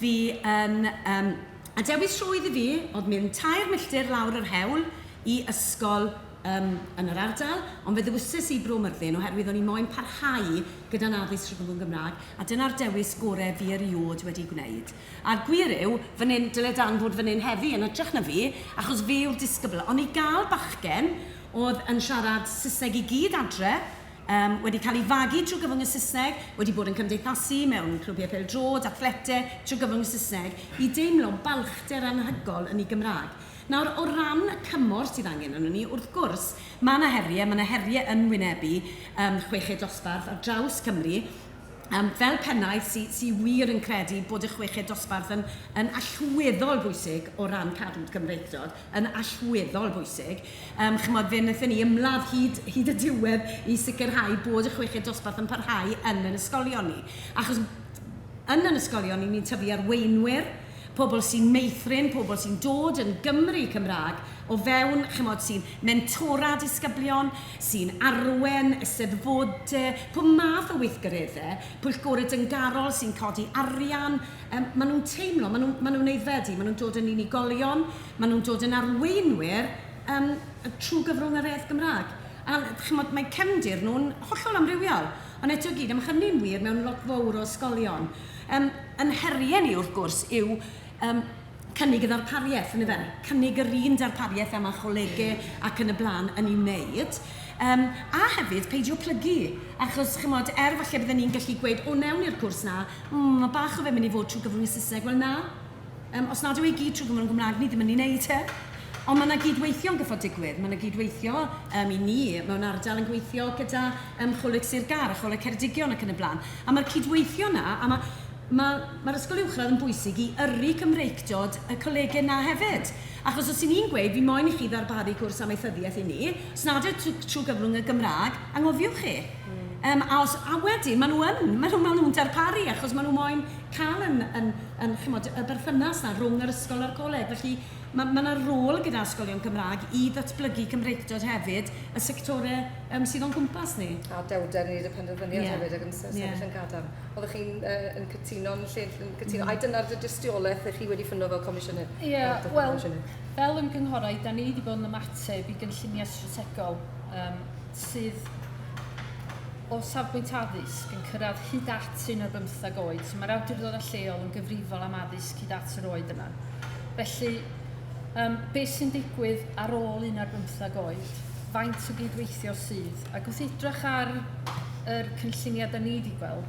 fi yn, yym, a dewis rhwydd i fi oedd mynd tair milltir lawr yr hewl i ysgol yym yn yr ardal, ond fe ddewises i Bro Myrddin oherwydd o'n i moyn parhau gyda'n addysg rhyngddwyn Gymraeg, a dyna'r dewis gorau fi erioed wedi gwneud. A'r gwir yw, fan 'yn, dyle Dan fod fan 'yn heddi, yn hytrach na fi, achos fe yw'r disgybl. Ond i gael bachgen oedd yn siarad Saesneg i gyd adre, yym, wedi cael ei fagu trwy gyfrwng y Saesneg, wedi bod yn cymdeithasu mewn clwbiau pêl-droed, athlete, trwy gyfrwng y Saesneg, i deimlo balchder anhygoel yn ei Gymraeg. Nawr, o ran y cymorth sydd angen arnon ni, wrth gwrs, mae 'na heriau, mae 'na heriau yn wynebu, yym, chweched dosbarth ar draws Cymru, yym, fel pennaeth sy sy wir yn credu bod y chweched dosbarth yn yn allweddol bwysig o ran cadw'r Gymreictod, yn allweddol bwysig. Yym, chimod, fe wnaethon ni ymladd hyd hyd y diwedd i sicrhau bod y chweched dosbarth yn parhau yn ein ysgolion ni. Achos yn ein ysgolion ni, ni'n tyfu arweinwyr, pobl sy'n meithrin, pobl sy'n dod yn Gymry Cymraeg o fewn, chimod, sy'n mentora disgyblion, sy'n arwain eisteddfodau, pob math o weithgareddau, pwyllgorau dyngarol sy'n codi arian, yym, maen nhw'n teimlo, maen nhw, maen nhw'n aeddfedu, maen nhw'n dod yn unigolion, maen nhw'n dod yn arweinwyr yym trwy gyfrwng yr iaith Gymraeg. A chimod, mae cefndir nhw'n hollol amrywiol, ond eto i gyd, a mae hynny'n wir mewn lot fawr o ysgolion. Yym, ein heriau ni, wrth gwrs, yw yym, cynnig y ddarpariaeth, yn dyfe? Cynnig yr un darpariaeth a mae Chollege ac yn y blaen yn ei wneud. Yym, a hefyd, peidio plygu, achos, chimod, er falle bydden ni'n gallu gweud, o wnewn ni'r cwrs 'na, mm, mae bach o fe'n mynd i fod trwy gyfrwng y Saesneg, wel na, yym, os nad yw e i gyd trwy gyfrwng y Gymraeg, ni ddim yn ei wneud e. Ond mae yna gyd-weithio'n gyffo digwydd, mae yna gyd-weithio yym, i ni mewn ardal yn gweithio gyda yym, Choleg Sir Gâr a Choleg Ceredigion ac yn y blaen. A mae'r cyd-weithio yna, a mae, Mae, mae'r ysgol uwchradd yn bwysig i yrru Cymreictod y colege 'na hefyd. Achos os 'y ni'n gweud, fi moyn i chi ddarparu cwrs amaethyddiaeth i ni, os nad yw e tw- trwy gyfrwng y Gymraeg, anghofiwch chi. Yym, a os, a wedyn, maen nhw yn, maen nhw, maen nhw'n darparu, achos maen nhw moyn cael yn, yn, yn, chimod, y berthynas 'na rhwng yr ysgol a'r coleg. Felly, ma', ma' 'na rôl gyda ysgolion Cymraeg i ddatblygu Cymreictod hefyd, y sectorau yym sydd o'n cwmpas ni. A dewrder i wneud y penderfyniad hefyd ac yn sefyll yn gadarn. Oeddech chi'n uh, yn cytuno'n lle yn cytuno, mm. a dyna'r dy dystiolaeth ych chi wedi ffundo fel comisiynydd? Ie, yeah, wel, fel ymgynghorau, da ni wedi bod yn ymateb i gynlluniau strategol um, sydd o safbwynt addysg yn cyrraedd hyd at un o'r bymthag oed, so mae'r awdurdodau lleol yn gyfrifol am addysg hyd at yr oed yna. Felly, um, beth sy'n digwydd ar ôl un o'r bymthag oed? Faint o gydweithio sydd? Ac wrth edrych ar yr cynlluniau da ni wedi gweld,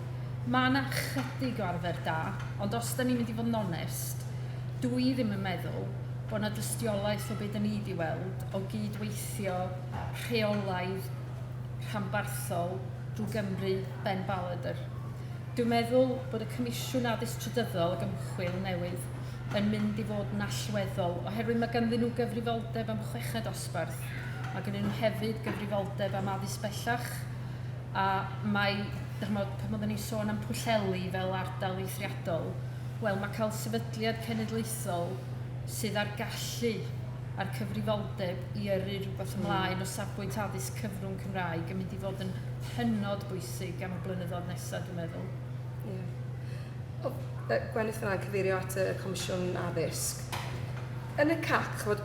mae yna chydig o arfer da, ond os da ni'n mynd i fod yn onest, dw i ddim yn meddwl bod yna dystiolaeth o be da ni wedi weld o gyd-weithio rheolaidd rhanbarthol drwy Gymru Ben Ballard. Dwi'n meddwl bod y Comisiwn Addysg Trydyddol ac Ymchwil newydd yn mynd i fod yn allweddol, oherwydd mae ganddyn nhw gyfrifoldeb am chweched dosbarth, Mae gennyn nhw hefyd gyfrifoldeb am addysg bellach a mae, dych chimod, pan oedden ni'n sôn am Pwllheli fel ardal eithriadol, wel mae cael sefydliad cenedlaethol sydd â'r gallu a'r cyfrifoldeb i yrru rhywbeth hmm. ymlaen o safbwynt addysg cyfrwng Cymraeg yn mynd i fod yn hynod bwysig am y blynyddoedd nesaf, dwi'n meddwl. Yeah. Gwenith fyna cyfeirio at y Comisiwn Addysg. Yn y CAC, chod,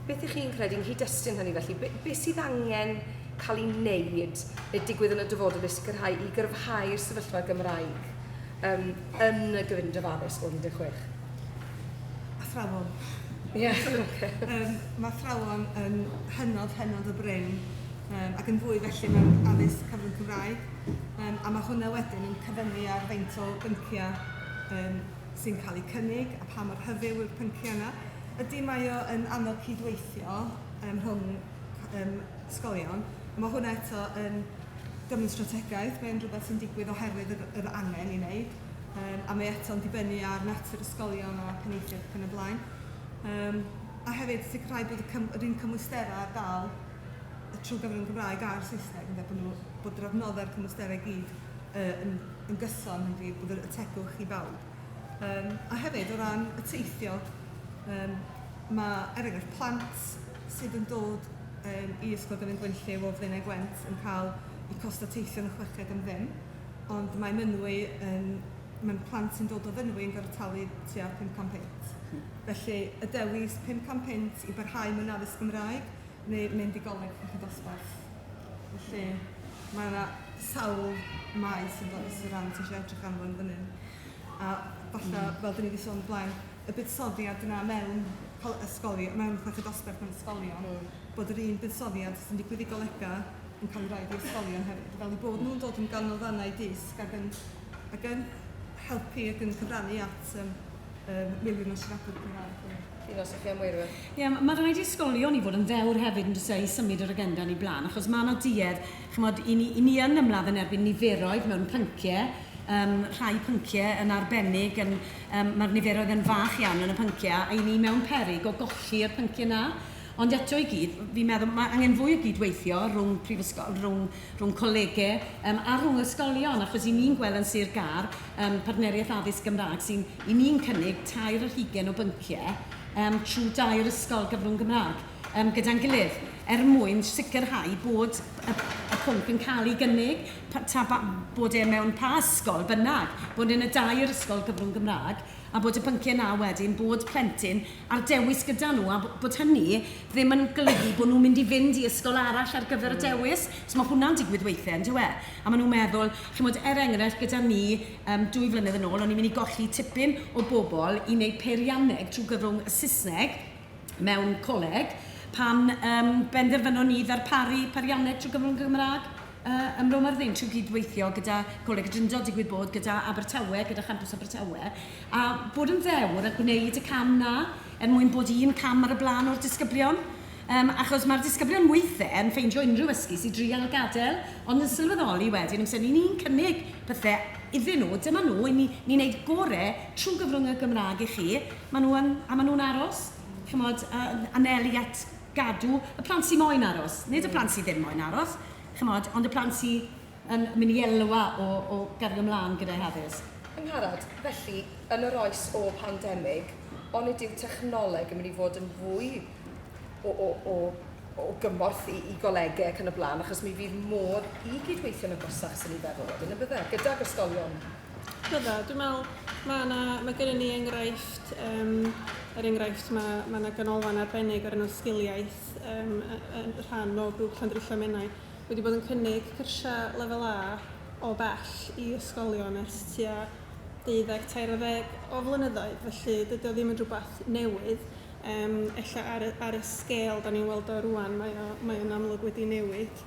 Beth ych chi'n credu yng nghyd-destun hynny felly? Be, be sydd angen cael ei wneud neu digwydd yn y dyfodol i sicrhau i gyrfhau'r sefyllfa Gymraeg um, yn y gyfundref addysg o 16? Athrawon. Ie, yeah, okay. um, mae athrawon yn hynod, hynod o brin um, ac yn fwy felly mewn addysg cyfrwng Cymraeg. Um, a mae hwnna wedyn yn cyfyngu ar faint o bynciau um, sy'n cael eu cynnig a pha mor hyfyw yw'r pynciau yna. Ydy, mae o yn anodd cydweithio ym mhwng ym ysgolion. Mae hwnna eto yn gyfnod strategaeth, mae'n rhywbeth sy'n digwydd oherwydd yr, yr angen i wneud. Um, a mae eto'n dibynnu ar natur ysgolion a penaethiaid ac yn y blaen. Um, a hefyd sicrhau bod y cym, yr un cymwysterau ar gael trwy gyfrwng Gymraeg a'r Saesneg, yn bod, nhw, bod yr adnoddau'r cymwysterau gyd uh, yn yn gyson yn wir bod yr y tegwch i bawb. Yym a hefyd o ran y teithio yym ma' er enghraifft plant sydd yn dod yym i Ysgol Dyffryn Gwenlliw o Flaenau Gwent yn cael eu costau teithio yn y chweched am ddim ond mae Mynwy yn mae'n plant sy'n dod o Fynwy yn gorfod talu tua pum can punt. Felly y dewis pum can punt i barhau mewn addysg Gymraeg neu mynd i goleg uwch y dosbarth. Felly, mae yna sawl maes yn does o ran ti eisiau edrych arno fo yn fan hyn. A falle, fel dan ni 'di sôn o'r blaen, y buddsoddiad yna mewn col- ysgolion, mewn chweched dosbarth mewn ysgolion... mm. ...bod yr un buddsoddiad sy'n digwydd i golegau yn cael ei roid i ysgolion hefyd. Fel eu bod nhw'n dod yn ganolfannau dysg ac yn ac yn helpu ac yn cyfrannu at yym yym miliwn o siaradwyr Cymraeg. Ti'n os chi am weirwe? Ie, mae rhaid i ysgolion i fod yn ddewr hefyd yn dysau i symud yr agenda yn ei blaen, achos mae yna duedd, chymod, i ni, i ni yn ymladd yn erbyn niferoedd mewn pynciau, um, rhai pynciau yn arbennig, yn, um, mae'r niferoedd yn fach iawn yn y pynciau, a i ni mewn perig o golli'r pynciau yna. Ond eto i gyd, fi'n meddwl, mae angen fwy o gydweithio rhwng prifysgol, rhwng, rhwng colegau um, a rhwng ysgolion, achos i ni'n gweld yn Sir Gar, yym Partneriaeth Addysg Gymraeg sy'n i ni'n cynnig tair ar hugain o bynciau yym trwy dair ysgol gyfrwng Gymraeg yym gyda'n gilydd er mwyn sicrhau bod y y pwnc yn cael ei gynnig pa- ta ba- bod e mewn pa ysgol bynnag, bod e'n y dair ysgol gyfrwng Gymraeg a bod y pynciau 'na wedyn bod plentyn ar dewis gyda nhw a bod hynny ddim yn golygu bod nhw'n mynd i fynd i ysgol arall ar gyfer y dewis, so mae hwnna'n digwydd weithiau yndyw e? A maen nhw'n meddwl Chimod, er enghraifft, gyda mi, yym, dwy flynedd yn ôl, o'n i'n mynd i golli tipyn o bobl i wneud peirianneg trwy gyfrwng y Saesneg mewn coleg, pan yym benderfynon ni ddarparu peirianneg trwy gyfrwng y Gymraeg yy ym Mro Myrddin, trwy gydweithio gyda Coleg y Drindod, digwydd bod, gyda Abertawe, gyda Champws Abertawe, a bod yn ddewr a gwneud y cam 'na, er mwyn bod un cam ar y blaen o'r disgyblion. Yym, achos mae'r disgyblion weithiau yn ffeindio unrhyw ysgys i drial gadael, ond yn sylweddoli wedyn, amser ni ni'n cynnig pethau iddyn nhw, dyma nhw, i ni, ni'n neud gore trwy gyfrwng y Gymraeg i chi, maen nhw yn, a maen nhw'n aros, chimod, yn anelu at gadw y plant sy moyn aros, nid y plant sy ddim moyn aros, chimod, ond y plant sy yn mynd i elwa o, o gario mlaen gyda'u haddysg. Angharad, felly, yn yr oes ôl pandemig, onid yw technoleg yn mynd i fod yn fwy o, o, o, o gymorth i, i golegau ac yn y blaen, achos mi fydd modd i gydweithio'n agosach sy'n ei feddwl wedyn y bydde, gydag ysgolion. Bydda, dwi'n meddwl, mae, na, mae gennym ni enghraifft, um, er enghraifft mae, mae yna ganolfan arbennig ar enw sgiliaeth um, yn rhan o grŵp Llandrillo Menai wedi bod yn cynnig cyrsiau lefel A o bell i ysgolion ers tua 12-13 o flynyddoedd, felly dydy o ddim yn rhywbeth newydd. Yrm ella ar y ar y sgêl 'dan ni'n weld o rŵan mae o mae o'n amlwg wedi newid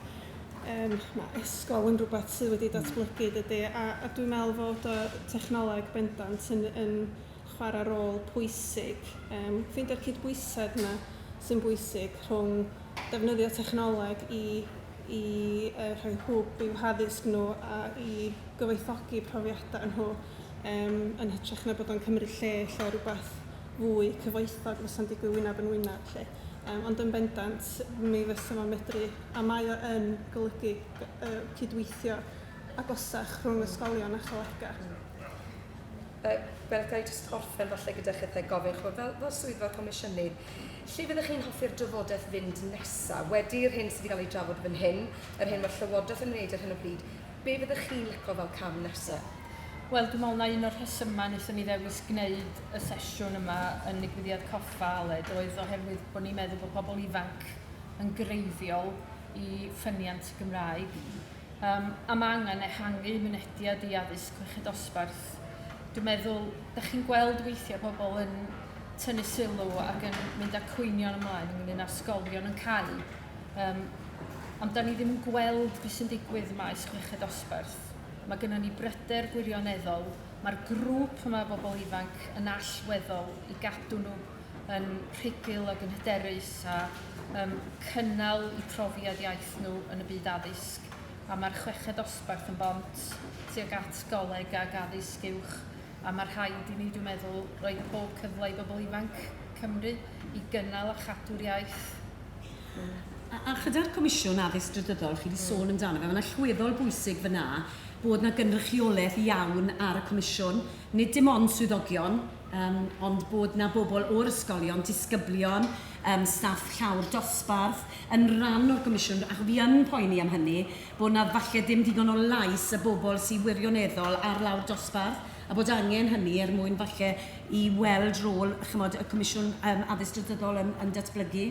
yrm ma' esgol yn rhywbeth sydd wedi datblygu dydi a a dwi'n meddwl fod y technoleg bendant yn yn chwarae rôl pwysig yrm ffeindio'r cydbwysedd 'na sy'n bwysig rhwng defnyddio technoleg i i yrr rhoi hwb i'w haddysg nhw a i gyfoethogi profiadau nhw yrm yn hytrach na bod o'n cymryd lle ella rywbeth fwy cyfoethog fysa'n digwydd wyneb yn wyneb 'lly. Yym ond yn bendant mi fysa fo'n medru... a mae o yn golygu yy cydweithio agosach rhwng ysgolion a cholegau. Yy Gwyneth, ga i jyst orffen falle gyda chithau gofyn chimod, fel fel swyddfa comisiynydd, lle fyddech chi'n hoffi'r drafodaeth fynd nesaf? Wedi'r hyn sydd wedi cael ei drafod fan hyn, yr hyn mae'r Llywodraeth yn wneud ar hyn o bryd, be fyddech chi'n licio fel cam nesaf? Wel dwi'n meddwl na un o'r rhesymau wnaethon ni ddewis gwneud y sesiwn yma yn nigwyddiad Coffa Aled oedd oherwydd bod ni'n meddwl bod pobl ifanc yn greiddiol i ffyniant y Gymraeg. Um, a mae angen ehangu mynediad i addysg chweched osbarth. Dwi'n meddwl, da chi'n gweld weithiau pobl yn tynnu sylw ac yn mynd â cwynion ymlaen ynglyn â sgolion yn cael. Um, ond da ni ddim yn gweld beth sy'n digwydd maes chweched osbarth. Cymraeg. Mae gennym ni bryder gwirioneddol, mae'r grŵp yma o bobl ifanc yn allweddol i gadw nhw yn rhugl ac yn hyderus a um, cynnal y profiad iaith nhw yn y byd addysg. A mae'r chweched osbarth yn bont tuag at goleg ac addysg uwch a mae rhaid i ni, dwi'n meddwl, roi pob cyfle i bobl ifanc Cymru i gynnal a chadw'r iaith. A a chyda'r Comisiwn Addysg Drydyddol, chi 'di sôn amdano fe, mae'n allweddol bwysig fan'na bod 'na gynrychiolaeth iawn ar y Comisiwn, nid dim ond swyddogion, yym ond bod 'na bobl o'r ysgolion, disgyblion, yym staff llawr dosbarth yn ran o'r Gomisiwn, ac fi yn poeni am hynny, bod 'na falle ddim digon o lais y bobl sy wirioneddol ar lawr dosbarth, a bod angen hynny er mwyn falle i weld rôl, chimod, y Comisiwn yym Addysg Drydyddol yn yn datblygu.